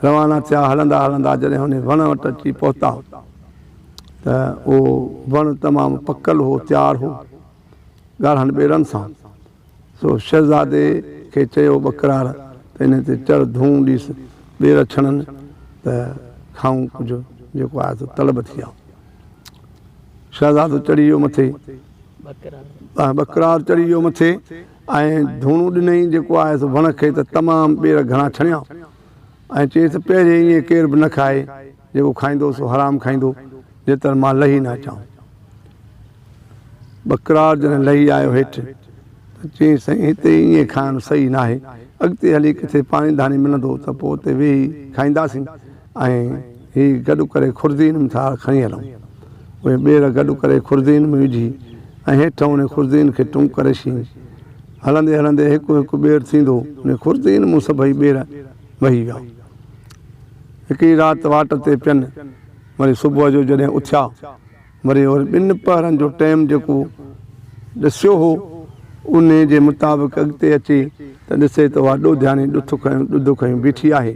روانا ٿيا هلندا هلندا جڏهن انهي وڻ وٽ اچي پهتا ته اهو وڻ تمام پڪل هو تيار هو ڳاڙهن ٻيرن سان سو شهزادي کي چيو ٻڪرار ته انهي تي چڙهه ڌونء ڏيس ٻير ڇڻن ته کائون ڪجهه جيڪو آهي سو طلب ٿي آئون شهزادو چڙهي ويو مٿي ٻڪرار چڙهي ويو مٿي ۽ ڌوڻو ڏنئين جيڪو آهي سو وڻ کي ته تمام ٻير گهڻا ڇڻيائون ۽ چيس ته پهرين ائين ڪير به نه کائي، جيڪو کائيندو سو حرام کائيندو، جيتر مان لهي نه اچان. ٻڪرار جڏهن لهي آيو هيٺ ته چيائين سائين هتي ائين کائڻ صحيح ناهي، اڳتي هلي ڪٿي پاڻي ڌاڻي ملندو ته پوء اتي ويهي کائينداسين. ۽ هي گڏ ڪري خردين م ٿار کڻي هلون. اهي ٻير گڏ ڪري خردين م وجهي ۽ هيٺ انهن خردين کي ٽنگ ڪري شين. هلندي هلندي هڪ هڪ ٻير ٿيندو انهن خردين م سڀئي ٻير وهي ويا. هڪڙي رات واٽ تي پين وري صبح جو جڏهن اٿيا. وري هن ٻن پهرن جو ٽيم جيڪو ڏسيو هو، انهيء جي مطابق اڳتي اچي ته ڏسي ته اها ڏوڌياڻي ڏٿ کنيو ڏڌ کنيو بيٺي آهي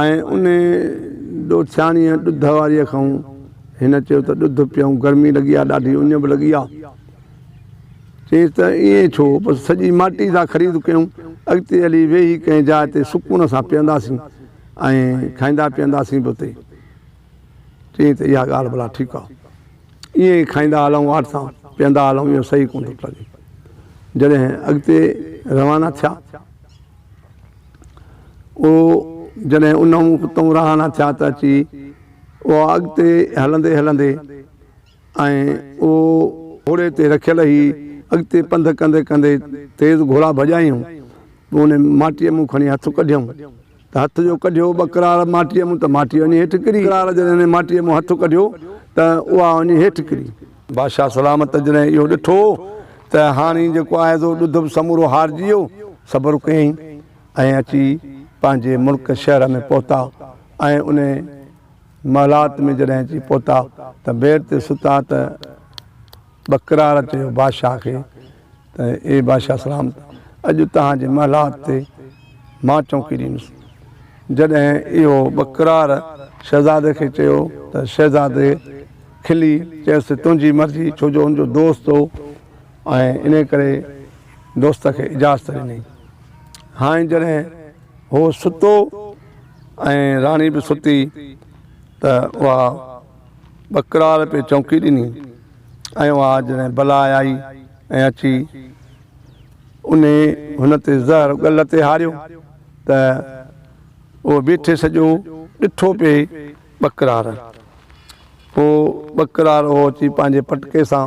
۽ انهيء ڏوٿياڻيء ڏڌ واريء کانئون هن چيو ته ڏڌ پيئون گرمي لڳي آ ڏاڍي اڃ به لڳي آ. چيس ته ائين ڇو، بس سڄي ماٽي سان خريد ڪيون، اڳتي هلي ويهي ڪنهن جاء تي سڪون سان پيئنداسين ۽ کائيندا پيئنداسين به اتي. چيائين ته اها ڳالهه ڀلا ٺيڪ آ. ائين ئي کائيندا هلئون واٽ سان پيئندا هلئون اهو صحيح ڪونه ٿو لڳي. جڏهن اڳتي روانا ٿيا او جڏهن انهون اتئون رهانا ٿيا ته اچي اها اڳتي هلندي هلندي ۽ او گهوڙي تي رکيل هئي اڳتي پنڌ ڪندي ڪندي تيز گهوڙا ڀڄايائون پوء ان ماٽيء مون کڻي هٿ ڪڍيم. ته هٿ جو ڪڍيو ٻه ڪراڙ ماٽيء مون ته ماٽي وڃي هيٺ ڪري. ڪراڙ جڏهن هن ماٽيء مون هٿ ڪڍيو ته اها وڃي هيٺ ڪري. بادشاهه سلامت جڏهن اهو ڏٺو ته هاڻي جيڪو آئيزو ڏڌ به سمورو هارجي ويو، صبر ڪيائين ۽ اچي پنهنجي ملڪ شهر ۾ پهتا ۽ ان محلات ۾ جڏهن اچي پهتا ته بيڊ تي ستا ته ٻه ڪراڙ چيو بادشاهه کي، ته اي بادشاهه سلامت! اڄ توهان جي محلات تي مان چونڪي ڏيندس. جڏهن اهو ٻڪرار شهزادي کي چيو ته شهزادي کلي چيس ته تنهنجي مرضي ڇو جو هن جو دوست هو ۽ انهي ڪري دوست کي اجازت ڏني. هاڻي جڏهن هو ستو ۽ راڻي به ستي ته اها ٻڪراڙ پئي چونڪي ڏني ۽ اها جڏهن بلا آئي ۽ اچي انهي هن تي زهر ڳل تي هاريو ته اهو بيٺي سڄو ڏٺو پئي ٻڪراڙ. پوء ٻڪراڙ اهو اچي پنهنجي پٽڪي سان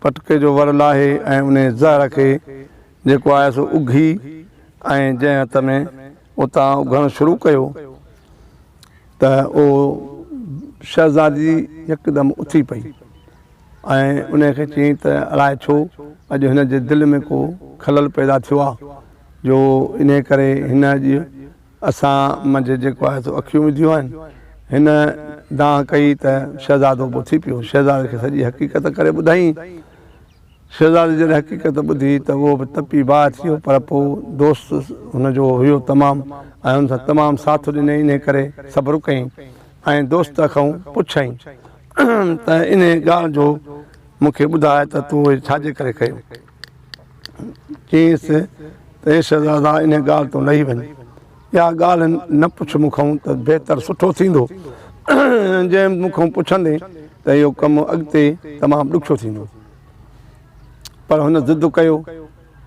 پٽڪي جو ور لاهي ۽ انهي زهر کي جيڪو آهي سو اگهي ۽ جنهن هٿ ۾ اتان اگهڻ شروع ڪيو، ته اهو شهزادي يڪدم اٿي پئي ۽ انهيء کي چيائين ته الاء ڇو اڄ هن جي دل ۾ ڪو خلل پيدا ٿيو آهي جو انهيء ڪري هن اڄ اسان منجهه جيڪو آهي سو اکيون وڌيون آهن. هن دانهن ڪئي ته شهزادو به اٿي پيو. شهزادي کي سڄي حقيقت ڪري ٻڌائين. شهزادي جڏهن حقيقت ٻڌي ته اهو به تپي باهه ٿيو پر پوء دوست هن جو هيو تمام ۽ هن سان تمام ساٿ ڏني انهي ڪري صبر ڪئين ۽ دوست کئون پڇئين ته انهي ڳالهه جو مون کي ٻڌاء ته تو هي ڇاجي ڪري ڪيو؟ چيس ته اي شهزادا انهي ڳالهه تون لهي وڃ. اها ڳالهه نه پڇ مون کان ته بهتر سٺو ٿيندو. جي مون کان پڇندين ته اهو ڪم اڳتي تمام ڏکيو ٿيندو. پر هن ضد ڪيو.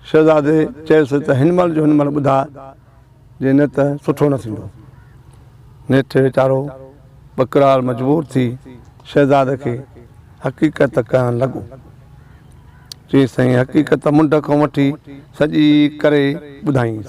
شهزادي چيس ته هن مهل جو هن مهل ٻڌاء، جي نه ته سٺو نه ٿيندو. نيٺ ويچارو ٻڪرال مجبور ٿي شهزادي کي حقيقت ڪهڻ لڳو. چيس ته هن حقيقت منڍ کان وٺي سڄي ڪري ٻڌائينس.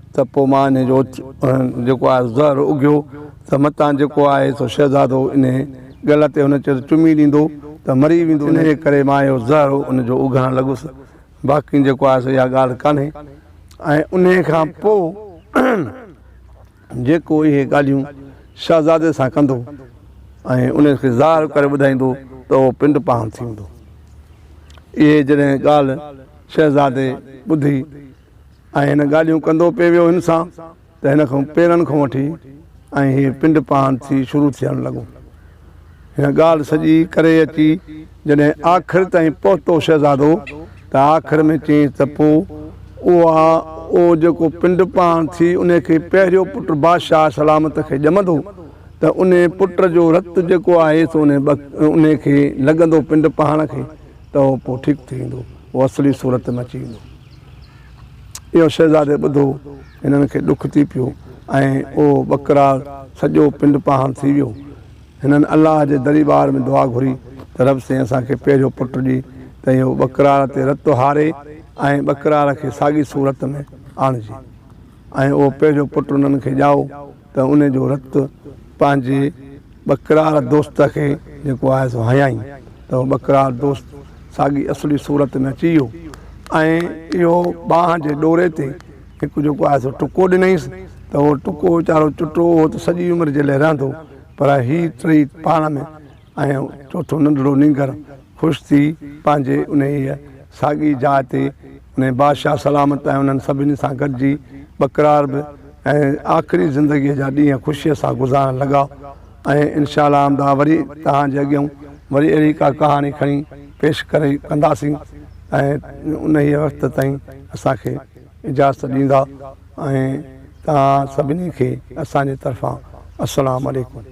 ته پوء مان انهيء جو جيڪو آهي سو زهر اگهيو ته متان جيڪو آهي سو شهزادو انهيء ڳل تي هن چيس چمي ڏيندو ته مري ويندو، انهيء ڪري مان اهو زهر ان جو اگهڻ لڳس، باقي جيڪو آهي سو اها ڳالهه ڪانهي ۽ انهيء کان پوء جيڪو اهي ڳالهيون شهزادي سان ڪندو ۽ ان کي ظاهر ڪري ٻڌائيندو ته اهو پنڊ پاڻ ٿيندو. اهي جڏهن ڳالهه شهزادي ٻڌي. ۽ هن ڳالهيون ڪندو پئي ويو هن سان ته هن کان پيرن کان وٺي ۽ هي پنڊ پاند ٿي شروع ٿيڻ لڳو. هن ڳالهه سڄي ڪري اچي جڏهن آخر تائين پهتو شهزادو ته آخر ۾ چيائينس ته پوء اها او جيڪو پنڊ پاند ٿي ان کي پهريو پٽ بادشاهه سلامت کي ڄمندو ته ان پٽ جو رت جيڪو آهي سو ان کي لڳندو پنڊ پاڻ کي ته اهو پوء ٺيڪ ٿي ويندو اهو اصلي صورت ۾ اچي ويندو. اهو شهزادي ٻڌو، هنن کي ڏک ٿي پيو ۽ اهو ٻڪرار سڄو پنڊ پاهڻ ٿي ويو. هنن الله جي دريبار ۾ دعا گهري ته رب سين اسان کي پهريو پٽ ڏي ته اهو ٻڪرار تي رت هاري ۽ ٻڪرار کي ساڳي صورت ۾ آڻجي ۽ اهو پهريو پٽ انهن کي ڄائو. ته ان جو رت پنهنجي ٻڪرار دوست کي جيڪو آهي سو هنيائين ته اهو ٻڪرار دوست ساڳي اصلي صورت ۾ اچي ويو ۽ اهو ٻانهن جي ڏوري تي هڪ جيڪو آهي سو ٽڪو ڏنائينس ته اهو ٽڪو ويچارو چٽو هو ته سڄي عمر جي لاء رهندو پر هي ٽئي پاڻ ۾ ۽ چوٿون ننڍڙو نينگر خوش ٿي پنهنجي انهيء ساڳي جاء تي انهي بادشاهه سلامت ۽ انهن سڀني سان گڏجي ٻڪرار به ۽ آخري زندگيء جا ڏينهن خوشيء سان گذارڻ لڳا ۽ انشاء الله آمده وري توهان جي اڳيئون وري اهڙي ڪا ڪهاڻي کڻي پيش ڪري ڪنداسين ۽ انهيء وقت تائين اسان کي اجازت ڏيندا ۽ توهان سڀني کي اسان جي طرفان السلام عليڪم.